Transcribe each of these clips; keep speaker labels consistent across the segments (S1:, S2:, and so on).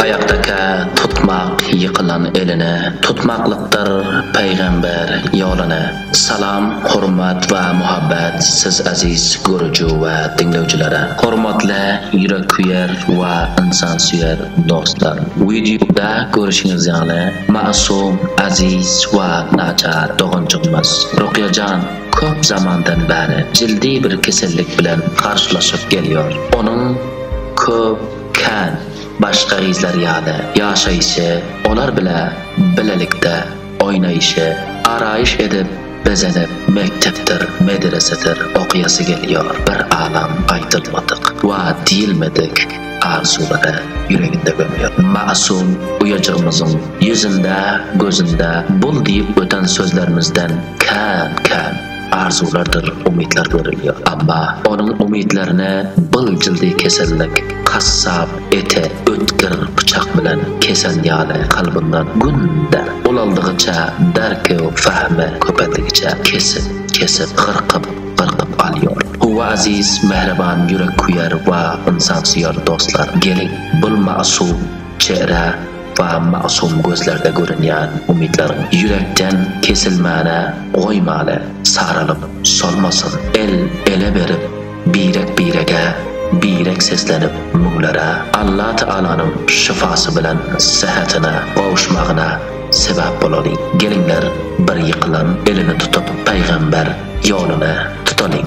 S1: Aýakdakä tutmak ýykylan eline, Tutmaklykdyr Pygamber ýoluna. Salam, hormat we muhabbet siz aziz görüji we diňlewjilere. Hormatly ýüreksüýer we ynsansüýer dostlar! Wideoda görüşiňiz ýaly, Masum, aziz we naçar doganjygymyz Rukýa jan köp zamandan bäri jildi bir kesellik bilen garşylaşyp gelýär. Onuň köp, kän, başga gyzlar ýaly ýaşaýşy, olar bile bilelikde oýnaýşy, araýyş edip, Bezenek mekdepdir, medresedir okýasy gelýär bir alam aýdylmadyk we diýilmedik arzuwlary ýüreginde gömýär. Masum uýajygymyzyň ýüzünde, gözünde bul diýip öten sözlerimizden kän, kän arzuwlardyr umytlar görülýär. Emma onuň umytlaryny byljyldy kesellik, kassap, Ete ötgür pyçak bilen kesen ýaly kalbyndan gün der ulaldygyça derkew fahmi köpeldigiçe kesip kesip gyrkyp gyrkyp alýor Howa aziz mähriban ýürekküýer wa ynsansüýer dostlar geliň bul magsup çehre wa magsuum gözlerde görünýän umytlaryň ýürekden kesilmäne goýmaly saralyp solmasyn el ele berip Birek-birege birek seslenip müňlere Allatagalanyň şyfasy bilen sähetine gowuşmagyna sebäp bolalyň. Geliňler bir ýykylan elini tutup Pygamber ýoluny tutalyň.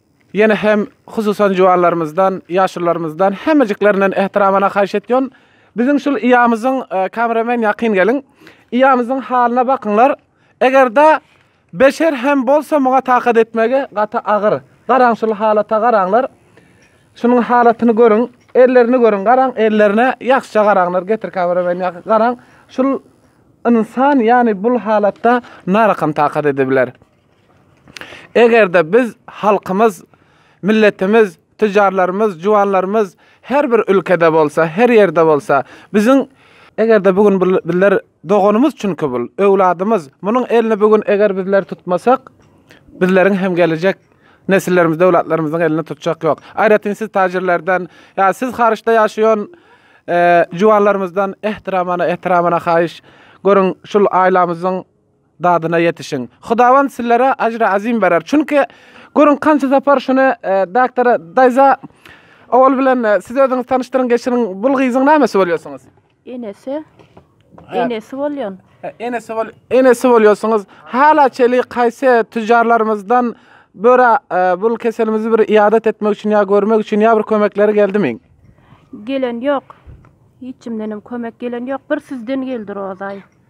S2: Ýene hem hususan juwanlarymyzdan, ýaşulylarymyzdan hemmejiklerinden ähtiramana haýyş etýän, biziň şul ýamyzyň, kameramen ýakyn geliň, ýamyzyň halyna bakyňlar, eger-de beşer hem bolsa muňa takat etmegi gaty agyr. Garaň şul halata garaňlar. Şunuň halatyny görüň, ellerini görüň, garaň ellerine ýagşyja garaňlar, getir kameramen ýakyn garaň, şul ynsan ýany bul halatda nara kam takat edebiler. Eger-de biz, halkymyz, milletimiz, tüjarlarymyz, juwanlarymyz her bir ülkede bolsa, her ýerde bolsa, biziň Eger-de bu gün bizler doganymyz çünki bul, öwladymyz. Munuň elini bu gün eger bizler tutmasak, bizleriň hem gelejek nesillerimiz, öwlatlarymyzyň elini tutjak ýok. Aýratyn siz täjirlerden, ýa siz Haryçda ýaşaýan juwanlarymyzdan ehtiramana, ehtiramana haýyş. Görüň, şul aýlamyzyň Dadyna ýetişiň. Hudawand sizlere ajry azim berer. Çünki görüň kança sapar şuny e, doktora daýza owal bilen e, siz özüňiz tanyşdyryň geçiriň. Bul gyzyň nämesi bolýarsyňyz? Enesi. Enesi
S3: bolýan. E, Enesi bol enesi
S2: bolýarsyňyz. Hala çeli kaýse tüjarlarymyzdan böra e, bul keselimizi bir iadat etmek üçin ýa görmek üçin ýa bir kömekleri geldimi? Gelen
S3: ýok. Hiç kimden hem kömek gelen ýok. Bir sizden geldi Rozaý.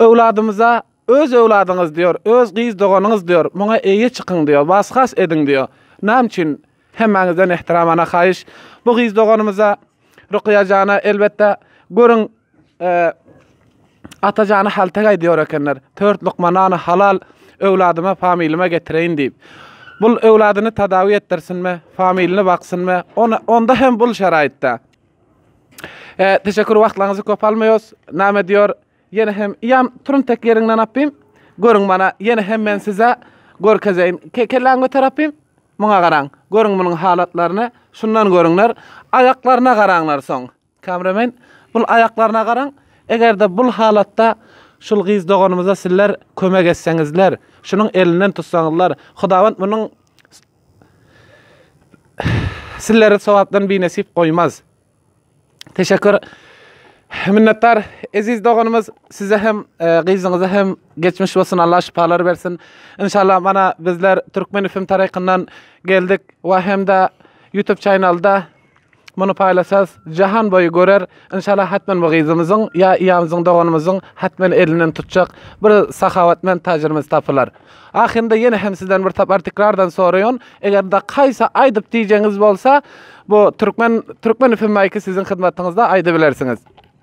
S2: Öwladymyza Öz öwladyňyz diýor, öz gyz doganyňyz diýor, muňa eýe çykyň diýor, was-has ediň diýor. Näme üçin? Hemmäňizden ähtiramana haýyş, bu gyz doganymyza, Rukyýa jana, elbetde, görüň, ata jana hältek aýdýar ekenler, Tört lukma nany halal öwladyma, familima getireýin diýip. Bul öwladyny tadawi etdirsinmi, familiny baksynmy, onda hem bul şeraýatda. E, teşekkür wagtlaryňyzy köp almaýos. Näme diýer? Ýene hem ýam turun tek ýeriňden apym. Görüň mana, ýene hem men size görkezeýin. Ke kelläň göter apym. Muňa garaň. Görüň munuň halatlaryny. Şundan görüňler. Aýaklaryna garaňlar soň. Kameramen, bul aýaklaryna garaň. Eger-de bul halatda şul gyz doganymyza sizler kömek etseňizler, şunuň elinden tutsaňyzlar, Hudawand munuň Sizleri sowapdan binesip goýmaz. Teşekkür. Minnetdar eziz doganymyz size hem e, gyzyňyza hem geçmiş bolsun Allah şifalar bersin. İnşallah mana bizler Türkmen FM tarafından geldik ve hem de YouTube kanalda Muny paýlaşas jahan boýy görer inşallah hatmen bu gyzymyzyň ýa ýamyzyň doganymyzyň hatmen elinden tutjak bir sahawatment tajirimiz tapylar. Ahyrynda ýene hem sizden bir sapar tikrardan soraýan egerde kaýsy aýdyp diýjegiňiz bolsa bu türkmen türkmen fmyky siziň hyzmatyňyzda aýdybilersiňiz.